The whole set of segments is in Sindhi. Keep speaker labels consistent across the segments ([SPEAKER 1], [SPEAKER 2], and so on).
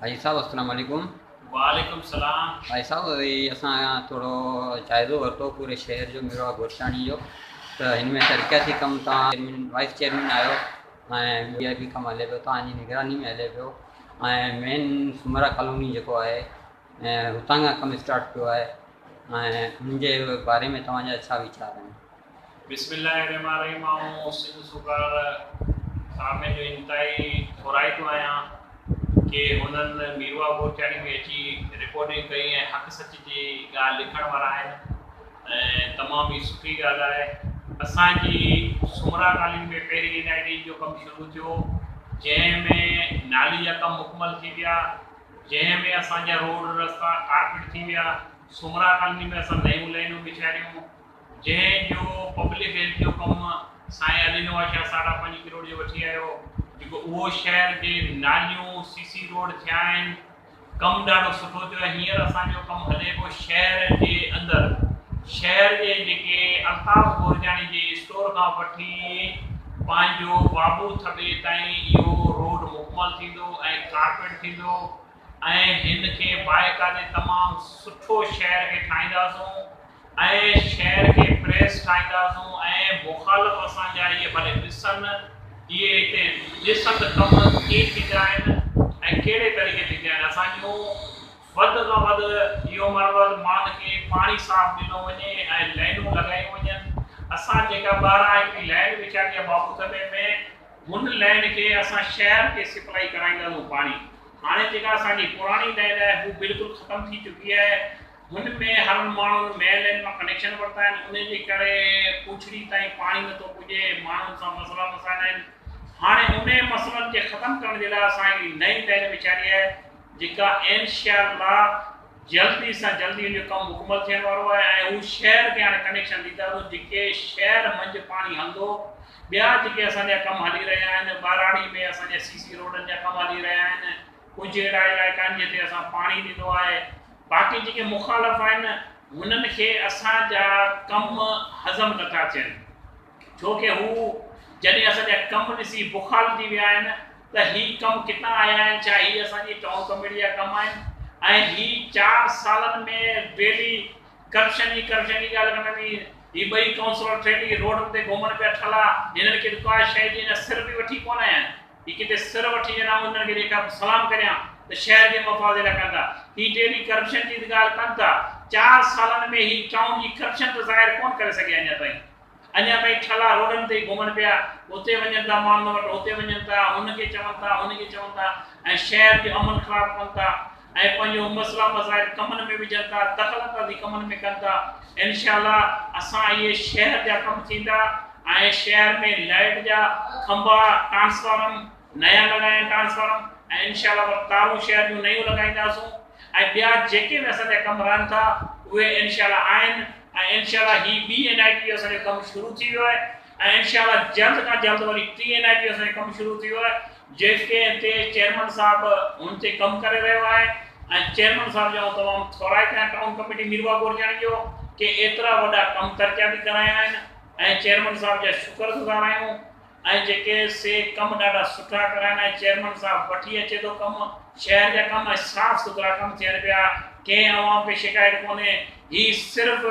[SPEAKER 1] حاجي صاحب السلام عليڪم. وعليڪم
[SPEAKER 2] السلام. حاجي صاحب هي
[SPEAKER 1] اسان ٿورو جائزو ورتو پوري شهر جو ميرواھ گورچاڻي جو ته هن ۾ ترقياتي ڪم توهان چيئرمين وائيس چيئرمين آهيو ۽ وي آء پي ڪم هلي پيو توهان جي نگراني ۾ هلي پيو ۽ مين سومرا ڪالوني جيڪو آهي هتان کان ڪم اسٽارٽ ٿيو آهي ۽ ان جي باري ۾ توهان جا ڇا ويچار آهن. بسم الله الرحمٰن
[SPEAKER 2] الرحيم آئون سنڌ سوگار سامي جو انتهائي ٿورائتو آهيان ڪي هونئن ميروا بورچاڻي ۾ اچي رڪارڊنگ ڪئي ۽ حق سچ جي ڳالهه لکڻ وارا آهن ۽ تمام ئي سٺي ڳالهه آهي اسان جي سومرا ڪالين ۾ پهرين اين آء ڊي جو ڪم شروع ٿيو جنهن ۾ نالي جا ڪم مڪمل ٿي ويا جنهن ۾ اسان جا روڊ رستا ڪارپيٽ ٿي ويا سومرا ڪالني ۾ اسان نيون لينون بڇايون جنهن جو پبلڪ هيلٿ جو ڪم سائين علي نواز شاهه ساڍا پنج ڪروڙ جو وٺي آيو جيڪو اهو شهر جي ناليون سي سي روڊ ٿيا آهن ڪم ڏاڍو سٺو ٿيو آهي هينئر اسان جو ڪم هلي پيو شهر جي اندر شهر جي جيڪي الطاف گورجاڻي جي اسٽور کان وٺي پنهنجو بابو ٿٻي تائين اهو روڊ مڪمل ٿيندو ۽ ڪارپيٽ ٿيندو ۽ هن کي مائيڪا جي تمام سٺو شعر کي ٺاهينداسون ۽ شعر کي پريس ٺاهينداسون ۽ مخالف اسان جا اهي ڀلي ڏسن اهي هتي ڏسن ته ڪم ڪيئن ٿيندا آهن ۽ ڪهڙي طريقي ٿيندا آهن اسان جون وڌ کان وڌ اهو مرحلو آهي ته ماڻهن کي پاڻي صاف ڏنو وڃي ۽ لائنون لڳايون وڃن اسان جيڪا ٻاهران هڪڙي لائن وڇائڻي آهي بابو ٿلهي ۾ هن لين کي اسان شهر کي سپلائي ڪرائينداسون پاڻي هاڻي جيڪا اسان جي پراڻي لين آهي هو بلڪل ختم ٿي چڪي آهي هن ۾ هرن ماڻهن مين لين مان ڪنيڪشن ورتا آهن انهي جي ڪري پونڇڙي تائين پاڻي نٿو پڄي ماڻهن سان مسئلا مسائل آهن هاڻي انهي مسئلن کي ختم ڪرڻ جي لاء اسان هڪڙي نئين لين وچاري آهي جيڪا انشاء الله جلدي سان جلدي ان جو ڪم مڪمل ٿيڻ وارو آهي ۽ هو شهر کي هاڻي ڪنيڪشن ڏينداسون جيڪي شهر منجهه پاڻي هلندو ٻيا جيڪي اسان جا ڪم هلي رهيا آهن ٻهراڙي ۾ اسان جا سي سي روڊن جا ڪم هلي رهيا آهن ڪجهه اهڙا علائقا آهن جتي اسان پاڻي ڏنو آهي باقي جيڪي مخالف آهن هنن کي اسان جا ڪم هضم نه ٿا ٿين ڇو ڪي هو جڏهن اسان جا ڪم ڏسي بخال ٿي ويا آهن ته هي ڪم ڪتان آيا آهن ڇا هي اسان جي ٽائون ڪميٽي جا ڪم آهن ۽ هي چار سالن ۾ ڊيلي ڪرپشن ئي ڪرپشن جي ڳالهه ڪندا ني هي ٻئي ڪائونسلر ٺيٺ هي روڊن تي گهمڻ پيا ٺلا هنن کي ته ڪا شيء جي اڃا سر به وٺي ڪونه آيا آهن هي ڪٿي سر وٺي وڃن آئون هنن کي جيڪا به سلام ڪريان ته شهر جي مفاد لاء ڪن ٿا هي ٽي به ڪرپشن جي ته ڳالهه ڪن ٿا چار سالن ۾ هي ٽائون جي ڪرپشن ته ظاهر ڪونه ڪري سگهيا اڃا تائين. اڃا تائين ڇلا روڊن تي ئي گهمن پيا، هتي وڃن ٿا ماڻهن وٽ، هتي وڃن ٿا، هن کي چون ٿا، هن کي چون ٿا ۽ شهر جو امن خراب ڪن ٿا ۽ پنهنجو مسئلا مسائل ڪمن ۾ وجهن ٿا، دخل اندازي ڪمن ۾ ڪن ٿا. انشاء الله اسان اهي شهر جا ڪم ٿيندا ۽ شهر ۾ لائيٽ جا کنڀا، ٽرانسفارم نيا لڳايا آهن ٽرانسفارم ۽ انشاء الله وري تارون شهر جون نيون لڳائينداسون. ۽ ٻيا جيڪي به اسان جا ڪم رهن ٿا اهي انشاء الله آهن ۽ انشاء الله هي ٻي اين آئي ٽي جو اسان جو ڪم شروع ٿي ويو آهي ۽ انشاء الله جلد کان جلد وري ٽي اين آئي ٽي جو اسان جو ڪم شروع ٿي ويو آهي جيڪي تي چيئرمن صاحب هن تي ڪم ڪري رهيو آهي ۽ چيئرمن صاحب جو آئون تمام ٿورائي ڪيان ٽائون ڪميٽي ميرواهه گورجاڻي جو ڪي ايترا وڏا ڪم ترقياتي ڪرايا آهن ۽ چيئرمن صاحب جا شڪر گذار آهيون. ۽ جيڪي سي ڪم ڏاڍا سٺا ڪرائين ۽ چيئرمن صاحب وٺي اچي ٿو ڪم شهر جا ڪم ۽ صاف سٿرا ڪم ٿين پيا ڪنهن عوام کي شڪايت ڪونهي هي صرف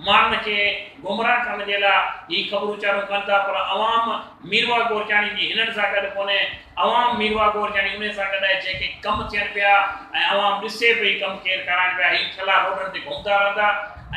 [SPEAKER 2] ماڻهن کي گمراهه ڪرڻ جي لا هي خبرون چارون ڪن ٿا پر عوام ميرواهه گورچاڻي جي هنن سان گڏ ڪونهي عوام ميرواهه گورچاڻي انهي سان گڏ آهي جيڪي ڪم ٿين پيا ۽ عوام ڏسي پئي ڪم ڪير ڪرائين پيا هي ٺلا روڊن تي گهمدا رهندا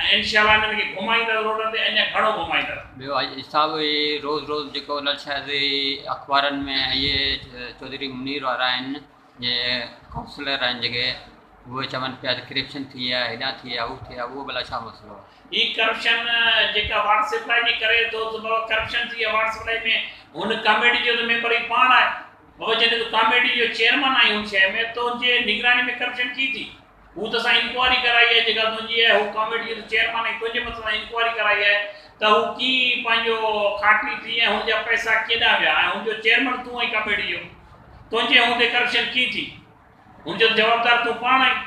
[SPEAKER 2] ۽ انشاء الله هنن کي گهمائيندس روڊن تي اڃا گهڻو گهمائيندس. ٻيو اڄ صاحب اهي
[SPEAKER 1] روز روز جيڪو ان شايد اخبارن ۾ اهي چوڌري منير وارا آهن جي ڪائونسلر آهن جيڪي اهي چون پيا ته ڪرپشن ٿي آهي هيڏانهن ٿي آهي هو ٿي آهي اهو ڀلا ڇا مسئلو آهي. هي ڪرپشن
[SPEAKER 2] جيڪا واٽر سپلاء جي ڪري ٿو ته بابا ڪرپشن ٿي آهي واٽر سپلاء ۾ هن ڪاميٽي جو ته ميمبر هي پاڻ آهي بابا جڏهن تون ڪاميٽي جو چيئرمن آهين هن شهر ۾ تنهنجي نگراني ۾ ڪرپشن ڪي ٿي. هو تو سان انڪوائري ڪرائي آهي جيڪا تنهنجي آهي هو ڪاميٽي جو ته چيئرمن آهين تنهنجي مٿان سان انڪوائري ڪرائي آهي ته هو ڪي پنهنجو کاٽي ٿي ۽ هن جا پئسا ڪيڏانهن ويا ۽ هن جو چيئرمن تون آهين ڪاميٽي جو تنهنجي هوندي ڪرپشن ڪي ٿي هن جو جوابدار تون پاڻ آهين